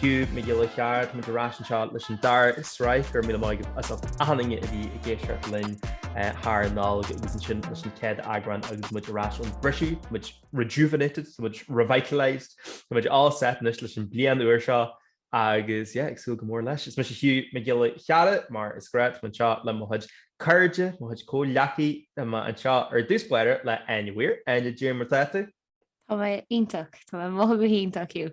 Hugh Mac Giolla Chearra, Táimid ar ais anseo leis an dara sraith, go raibh míle maith agat as ucht an fhoighne a bhí agaibh linn thar an Nollaig agus ansin leis an chéad eagrán agus muid ar ais ón briseadh, tá muid rejuvenated, tá muid revitalised, tá muid all set anois leis an bliain úr seo agus yeah, ag súil go mór leis. Is mise Hugh Mac Giolla Chearra, mar is gnách, táim anseo le mo chuid cairde, mo chuid comhghleacaí, tá mé anseo ar dtús báire le Áine Weir, Áine cad é mar atá tú? Tá mé iontach, tá mé ag mothú go hiontach, Hugh.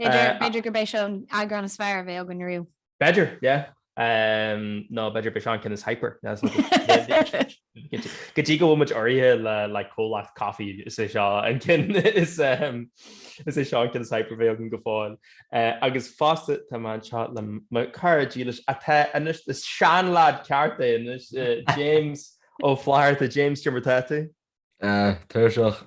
B'fhéidir gurb é seo an eagrán is fearr a bheidh againn riamh. B'fhéidir, yeah. Nó b'fhéidir gurb é seo an ceann is hyper. Go dtí go bhfuil muid urraithe le comhlacht coffee, is é seo an ceann is hyper a bheidh againn go fóill. Agus fosta, tá mé anseo le mo chara dílis, atá anois ina seanleaid ceart é anois, James Ó Flatharta. James, cad é mar atá tú? Tuirseach.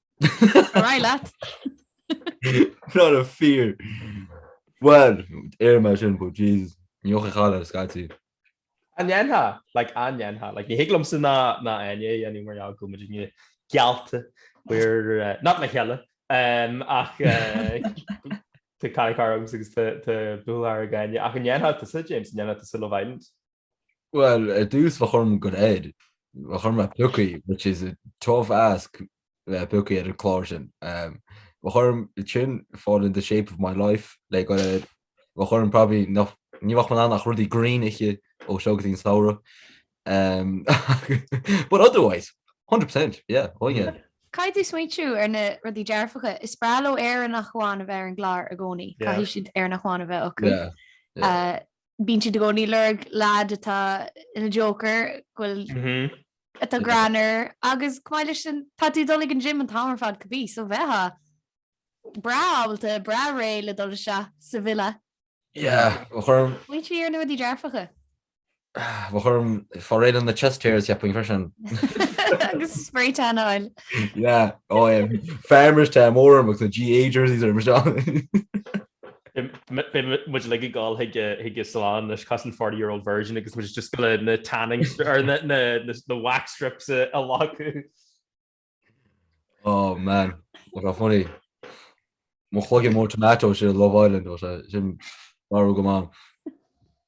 Ar aghaidh leat! Not a fear! Bhuel, deirim é sin, but Jesus, ní chaitheadh a chailleadh scaití. An ndéanfá? Like, an ndéanfá? Like, ní thig liomsa ná, ná Áine a dhéanamh mar gheall go bhfuil muidinne geallta ar, eh, not le chéile, em, ach, eh, tá caracar agamsa agus tá, tá buachaill againne. Ach an ndéanfá tusa, James, an ndéanfá tusa Love Island? Bhuel, ar dtús bheadh orm dul air, bheadh orm a bheith pioctha, which is a tough ask bheith pioctha ar an clár sin. Bheadh orm sin, a fháil in the shape of my life, le dul air. Bheadh orm probably, nach, ní bheadh mé in ann ach rudaí green a ithe ó seo go dtí an samhradh. But otherwise, hundred percent, yeah, oh yeah. Caithfidh tú smaointiú ar na rudaí dearfacha. Is breá leo Éireannach amháin a bheith ar an gclár i gcónaí, caithfidh siad Éireannach amháin a bheith acu. bíonn siad i gcónaí ag lorg leaid atá ina joker go bhfuil atá greannmhar agus chomh maith leis sin tá tú ag dul ag an gym an t-am ar fad cibé so bheifeá breá ábalta breá réidh le dul isteach sa villa. Yeah bheadh orm. Smaointiú ar na rudaí dearfacha. Bheadh orm fáil réidh leis na chest hairs cheapfainn freisin. agus spray tan a fháil. Yeah ó é farmer's tan mór orm ag na GAA jerseys ar mo seán. Beidh muid ag gol chuig an salon leis cosúil 40 year old virgin agus muid just go le na tanning or na wax strips a laghú. Oh man, what a funny. Mo chloiginn mór tomato sa Love Island ó sin marú go man.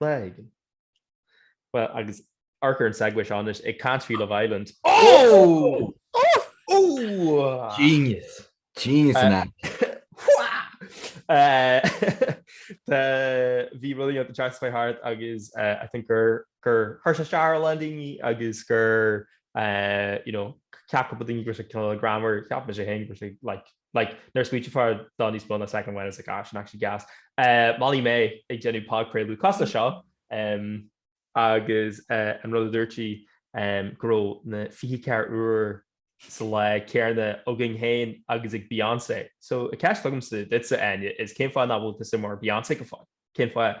Bhreathnaigh. Bhuel, agus ar chor ar bith an segue seo anois ag caint faoi Love Island. Oh! Oh! Genius! Genius in action! Bhí rudaí ag teacht faoi thart agus I think gur chuir sé stop ar a lán daoine agus gur, you know, cheap cúpla daoine go raibh sé cineál greannmhar, cheap mise féin go raibh sé like Like, nuair a smaoiníonn tú faoi níos mó ná second amháin it's like, ah, níl sin actually gas. Molly-Mae ag déanamh podchraoladh cosúil le seo, em. Agus an rud a dúirt sí, em, go raibh na 24 uair sa lá céanna againn féin agus ag Beyoncé. So, an cheist agamsa duitsa, Áine, is cén fáth nach bhfuil tusa mar Beyoncé go fóill? Cén fáth?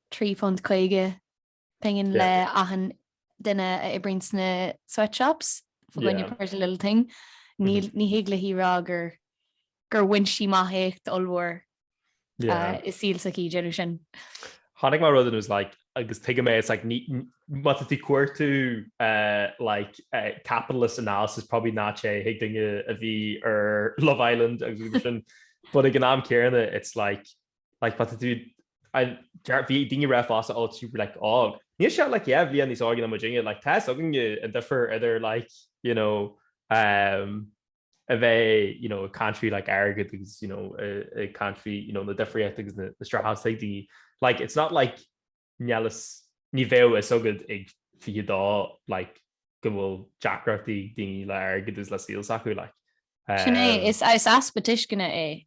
£3.50 pingin le achan duine a oibríonn sna sweatshops, fá choinne Pretty Little Thing. Ní thig léi rá gur bhain sí amach éacht ollmhór i saol s'aici ag déanamh sin. Chonaic mé rud and I was like agus tuigim é, it's like má tá tú cuartú like capitalist analysis probably ná téigh chuig duine a bhí ar Love Island agus rudaí mar sin but ag an am céanna it's like like, but bhí daoine ag rá fosta ó tá sí like, óg. Níl sí ach like, yeah, bhliain níos óige ná muidinne, like, tá fhios againn an difear idir like, you know, um, a bheith you know, ag caint faoi like, airgead agus you know, ag caint faoi you know, na difríochtaí agus na, na streachailtí daoine like, it's not like Nialas, ní bheadh a fhios agat ag 22 like go bhfuil deacrachtaí ag daoine le airgead is le saol s'acu like. Sin é, is easpa tuisceana é.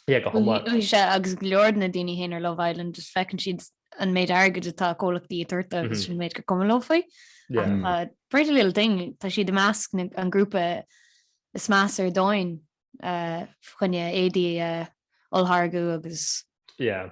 Yeah, go hiomlán. Agus go leor de na daoine féin ar Love Island just feiceann siad an méid airgid atá comhlachtaí ag tabhairt dóibh agus sin an méid gur cúram leo faoi. Yeah. Ach tá Pretty Little Thing, tá siad i measc na, an grúpa is measa ar domhain, eh, choinne éadaí a olltháirgeadh agus. Yeah.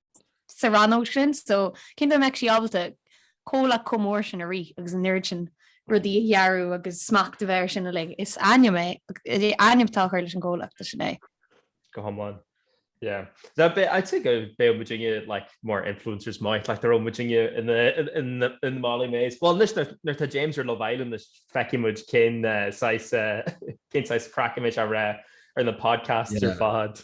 sa rannóg sin so cén dóigh a mbeadh sí ábalta comhlacht chomh mór sin a rith agus an oiread sin rudaí a dhearadh agus smacht a bheith air sin uilig. Is ainm é, ainm atá á chur leis an gcomhlacht sin é. Go hiomlán. Yeah. Now be, I'd say go beidh muidinne like more influencers might like ar muidinne in the in the in the Molly-Maes. Well anois nuair atá James ar Love Island anois feicfidh muid cén uh, saghas uh, cén saghas craic a mbeimid ag rá ar na podcasts yeah. ar fad.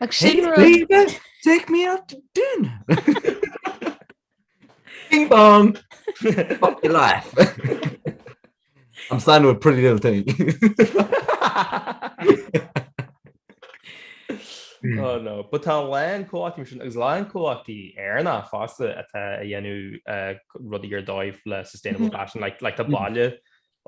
Ach sin rud... Take me out to dinner! Bing bong! Fuck your life! I'm standing with pretty little thing. Oh no, but tá a lán comhlachtaí mar sin agus a lán comhlachtaí Éireannacha fosta atá ag déanamh rudaí ar dóigh le sustainable fashion, like tá baile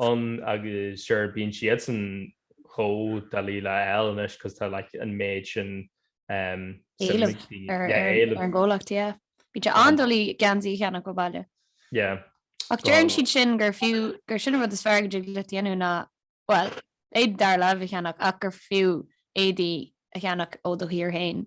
ann agus sure bíonn siadsan chomh doiligh le fáil anois 'cause tá like an méid sin um éileamh ar yeah ar ar an gcomhlacht, yeah. Bíonn sé um an-doiligh geansaí a cheannach ó baile. yeah Ach deireann well siad sin gur fiú, gur sin an rud is fearr go dtig leat dhéanamh ná, bhuel, éadaí dara láimhe a cheannach ach gur fiú éadaí a cheannach ó do thír féin.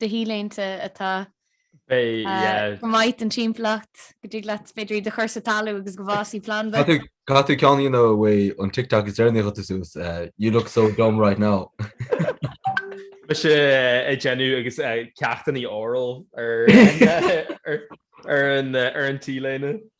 de T-léinte atá go maith don timpeallacht, go dtig leat b'fhéidir iad a chur sa talamh agus go bhfásaidh planda. Caith tú ceann, you know faoi an TikTok is deireanaí a chuir tú suas, You look so dumb right now. Bíonn sé ag déanamh a chuid cleachtaí oral ar an T-léine.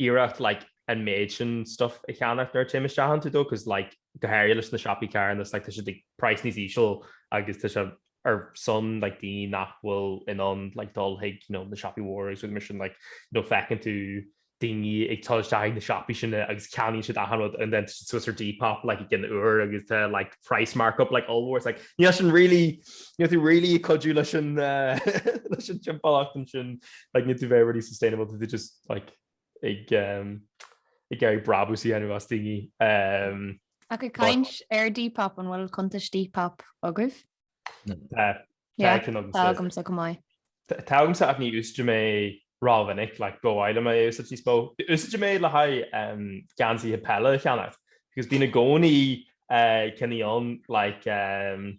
iarracht like an méid sin stuff a cheannach nuair a théim isteach iontu though cos like go háirithe leis na siopaí carthanais like tá siad ag praghas níos íseal agus tá sé ar son like daoine nach bhfuil in ann like dul chuig you know na siopaí mhóra agus rudaí mar sin like you know feiceann tú daoine ag dul isteach ag na siopaí sin agus ceannaíonn siad achan rud and then tá siad suas ar Depop like i gcionn uair agus tá like price markup like ollmhór it's like níl sin really níl tú really ag cuidiú leis an leis an timpeallacht ansin like níl tú very really sustainable tú just like ag iarraidh brabús a dhéanamh as daoine ehm. Ach ag caint ar Depop, an bhfuil cuntais Depop agaibh? Ó, tá agamsa. Tá agamsa go maith. Tá agamsa ach ní úsáideann mé rómhinic, like ba mhaith liom é a úsáid níos mó. Úsáideann mé le haghaidh ehm geansaithe peile a cheannach, because bíonn i gcónaí eh cinní ann like ehm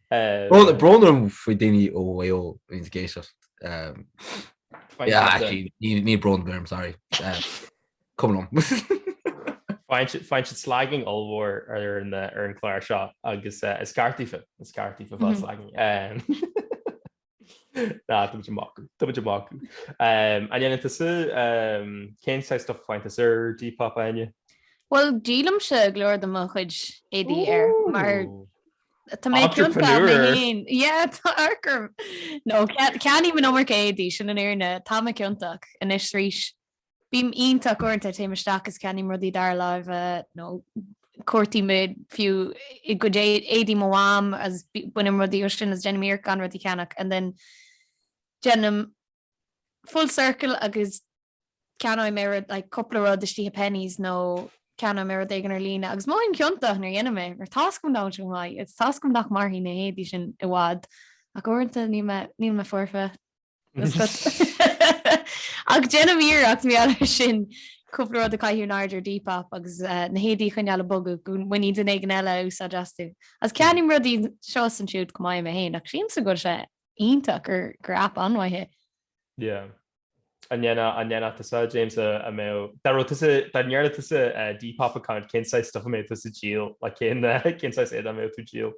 Brón orm faoi daoine ó Mhaigh Eo a bhíonns ag éisteacht. Níl brón orm, sorry. Cuma liom. Faigheann siad slagging ollmhór ar an chlár seo agus is ceart daofa, is ceart daofa a fháil slagging. Ná, tá muid amach, tá muid amach. An ndéanann tusa, cén saghas stuff a fhaigheann tusa ar Depop Áine? Bhuel, díolaimse go leor de mo chuid éadaí air, mar tá mé ciontach mé féin, yeah, tá a fhios agam. Nó ceannaím an iomarca éadaí, sin an fhírinne, tá mé ciontach anois arís. Bím iontach uaireanta, téim isteach is ceannaím rudaí dara láimhe nó cuartaím fiú i gcuid éadaí mo mham is bainim rudaí ó sin is déanaim iarracht gan rudaí a cheannach and then déanaim full circle agus ceannóidh mé rud like cúpla rud istigh i Penneys nó ceannóidh mé rud éigin ar líne agus mothaím ciontach nuair a dhéanaim é mar tá a fhios agam nach bhfuil sé chomh maith agus tá a fhios agam nach mairfidh na héadaí sin i bhfad ach uaireanta níl mé níl mé foirfe. Ach déanaim iarracht mar gheall air sin, cúpla rud a chaitheamh in airde ar Depop agus na héadaí a choinneáil ag bogadh go mbainfidh duine éigin eile úsáid astu. Agus ceannaím rudaí anseo is ansiúd chomh maith mé féin, ach sílimse go bhfuil sé iontach gur aip an-mhaith é. An ndéanfadh tusa, James, a mbeadh, dá raibh tusa, dá ndéanfadh tusa Depop account cén saghas stuif a mbeadh tusa ag díol, like cén saghas éadaí a mbeadh tú ag díol?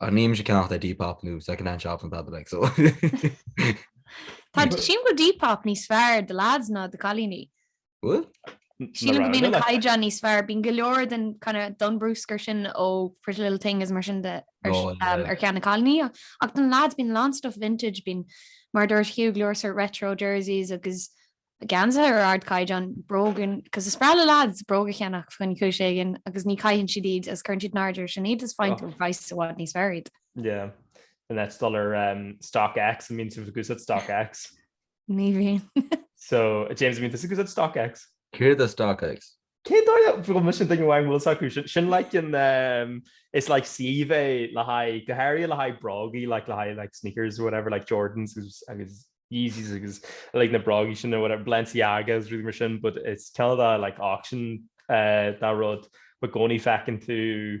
Ach ní bhímse ag ceannach ar Depop nó Second Hand Shops ná dada like so. Tá sílim go Depop níos fearr do lads ná do chailíní. Bhuel. Sílim go mbíonn an caighdeán níos fearr. Bíonn go leor den kind of den bruscar sin ó Pretty Little Thing is mar sin de ar cheann na cailíní ach don lads bíonn a lán stuff vintage bíonn mar a dúirt Hugh go leor sort retro jerseys agus geansaithe ar ardchaighdeán, bróga, 'cause is breá le lads bróga a cheannach chun cúis éigin agus ní caitheann siad iad agus cuireann siad in airde air sin iad is faigheann tú ar phraghas i bhfad níos fearr iad. Yeah. The next dul ar um, stock X an mbíonn sibh ag úsáid stock X. Ní bhíonn. so James an mbíonn tusa ag úsáid stock X. Céard é stock X. Cén dóigh a bhfuil mise an duine amháin a bhfuil a fhios acu? Sin like an, it's like suíomh é le haghaidh, go háirithe le haghaidh brógaí, like le haghaidh like sneakers or whatever, like Jordans agus Yeezys agus like na brógaí sin or whatever, Balenciagas, rudaí mar sin, but it's cineál de like auction de rud, but i gcónaí feiceann tú,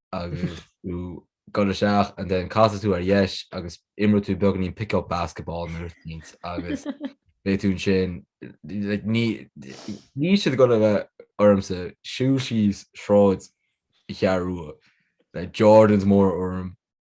agus tú ag goil isteach and then casfaidh tú ar dheis agus imreoidh tú beagáinín pick up basketball nuair is iad agus beidh tú ansin like níl siad ag goil a bheith ormsa ag siúl síos sráid an Cheathrú Rua le Jordans mór orm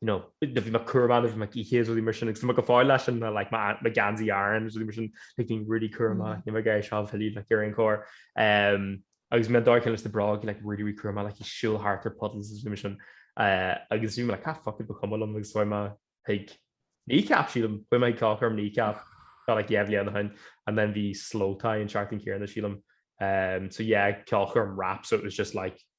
you know, do bhí mé cúramach nuair a bhí mé á gcaitheamh, rudaí mar sin, agus tá mé go fóill leis an, like, mo, mo gheansaí Aran, rudaí mar sin, like, bhínn really cúramach, mm. níl mé ag iarraidh é seo a mhilleadh, like, ar aon chor. Um, agus bhí mé an dóigh chéanna leis na bróga, like, really, really cúramach, like, ag siúl thart ar puddles, rudaí mar sin. Uh, agus bhí mé, like, ah, fuck it, ba cuma liom, agus bhí mé, like, Kneecap sílim, bhí mé ag ceolchoirm Kneecap, tá, like, dhá bhliain ó shin, and then bhí Slowthai an tseachtain chéanna, sílim, um, so yeah, ceolchoirm rap, so it was just, like,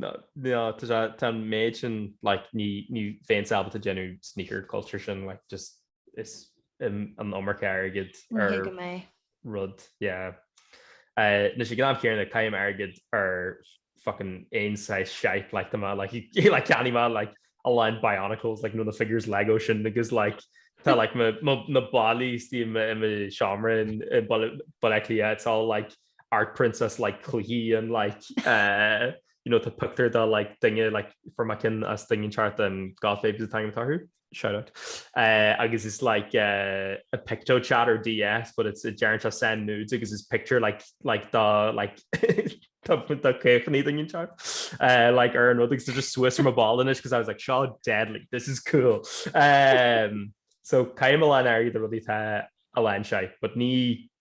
Tá an méid sin ní féin sábhailte déanamh sneaker culture sin is an iomarca airgid ar rud. Anois ag an am chéanna caithim airgead ar fucking aon saghas shite, tá mé like cheannaigh mé a lán Bionicles nó na figures Lego sin agus tá na ballaí istigh i mo sheomra in Baile Átha Cliath, it's all like art prints is like cluichí and like eh you know tá pictiúr de like duine like fuair mé ceann as Daingean Seart and Goth Babes an t-ainm atá orthu, shout out, eh agus is like eh a picto chat or DS but it's deireann sé send nudes agus is pictiúr like like dá like dá caochnaí Daingean Seart eh like ar an rud agus tá just suas ar mo bhalla anois because I was like seo deadly, this is cool eh so caithim a lán airgid ar rudaí atá a lán shite but ní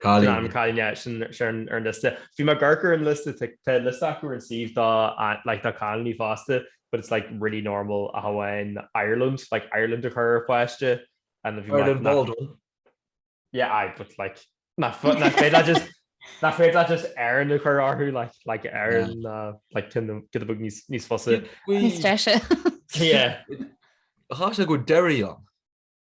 Gleann Cailíne, sin ar an liosta. Bhí Mac Gurk ar an liosta, tá liosta acu ar an suíomh do cailíní fosta, but it's like really normal ach amháin Ireland, like Ireland a chur ar pháiste. Ireland Baldwin. Yeah, aye, but like nach féidir leat just, nach féidir leat just Erin a chur orthu, like, like Erin, like cineál, giota beag níos fusa. Níos deise. Yeah. Caithfidh sé go raibh Derry ann.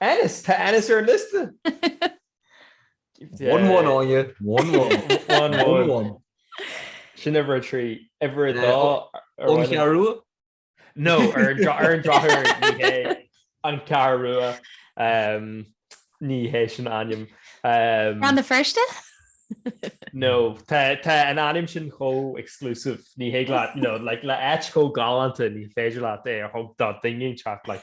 Ennis! Tá Ennis ar an liosta! One one Áine, one one. One one. Sin uimhir a trí. Uimhir a dó ar An Cheathrú Rua? No, ar an dra- ar an drochuair ní hé an Ceathrú Rua. Ehm, ní hé sin a ainm. Ehm, Rann na Feirste? no, tá tá an ainm sin chomh exclusive. Ní hé leat, you know, like le áit chomh galánta ní féidir leat é a thabhairt do duine inteacht, like,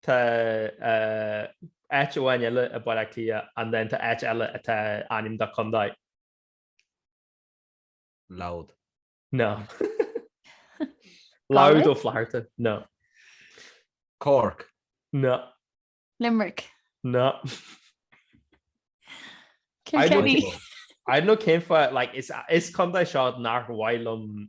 Tá áit amháin eile i Baile Átha Cliath, and then tá áit eile atá ainm do contae. Louth. No. Louth Ó Flatharta. No. Cork. No. Limerick. No. Kilkenny. I don't know cén fáth, like, is contae seo nach maith liom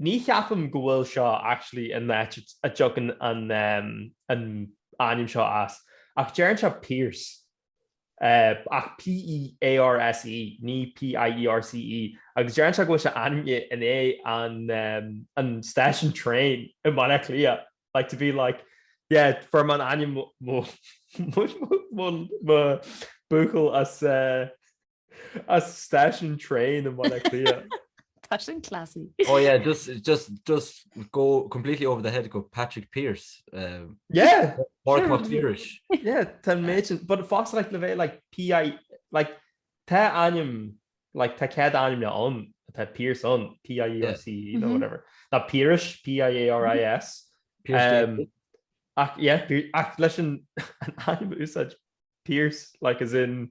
Ní cheapaim go bhfuil seo actually an áit a dtagann an an ainm seo as, ach deireann sé Pearse, ach P-e-a-r-s-e, ní P-i-e-r-c-e, agus deireann sé go bhfuil sé ainmnithe i ndiaidh an stáisiún traein i mBaile Átha Cliath, like to be like yeah fuair mé an ainm mo mo mo mo buachaill as eh, As station train in Baile Cliath. Tá sin classy. Oh yeah, just just just go completely over the head go Patrick Pierce. Um, yeah. Mark yeah. McClearish. Yeah, tá méid, but fast like le bheith like PI like tá anim like tá cead anim le on tá Pierce on PIERC you know mm-hmm. whatever. Tá Pierce P I A R I S. Pierce. Um, ach yeah, ach leis an anim úsáid Pierce like as in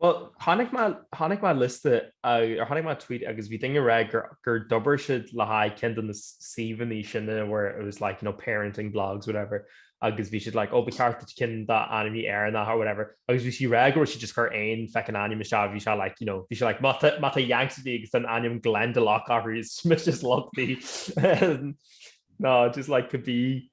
Bhuel, chonaic mé, chonaic mé liosta, or chonaic mé tweet agus bhí duine rá gur, gur d'obair siad le haghaidh ceann de na suíomhanna sin where it was like, you know, parenting blogs, whatever, agus bhí siad like, ó, ba cheart duit ceann de na hainmneacha Éireannach or whatever, agus bhí sí rá go raibh siad just chur aon feckin' ainm isteach, bhí sé like, you know, bhí sé like, má tá, má tá Yanks a bhí agus an ainm Glendalough is just lovely. no, just like could be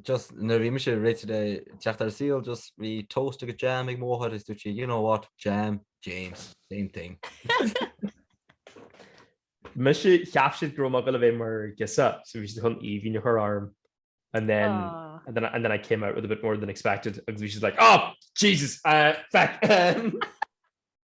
just nuair a bhí mise réite le teacht ar saol just bhí toast agus jam ag mo mháthair is dúirt sí you know what jam James same thing Mise cheap siad go raibh mé le bheith mar girseach so bhí siad chun Aoibhín a chur orm and then Aww. and then and then I came out with a bit more than expected agus bhí siad like oh Jesus uh, feck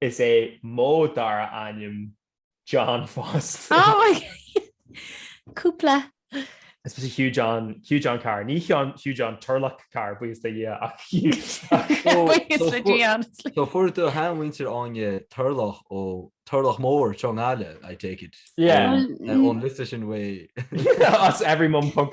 Is é mo dara ainm John fosta. Oh my Cúpla. Especially Hugh John Hugh John Carr ní Hugh John Turlach Carr buíochas le Dia. So fuair do sheanathair Áine Turlach ó Turlach Mór i nGaillimh I take it. Yeah ón list sin way as everymum ponc.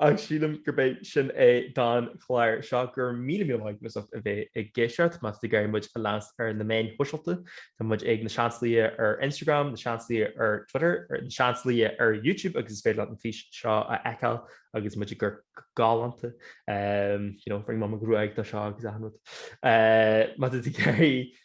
Ach sílim gurb é sin é don chlár seo. Go raibh míle míle maith agat as a bheith ag éisteacht. Má tá tú ag iarraidh muid a leanstan ar na meáin shóisialta, tá muid ag na Seansálaithe ar Instagram, na Seansálaithe ar Twitter, na Seansálaithe ar YouTube agus is féidir leat an fís seo a fheiceáil agus muid ag amharc go galánta, you know, rinne mé mo ghruaig dó seo agus achan rud. Má tá tú ag iarraidh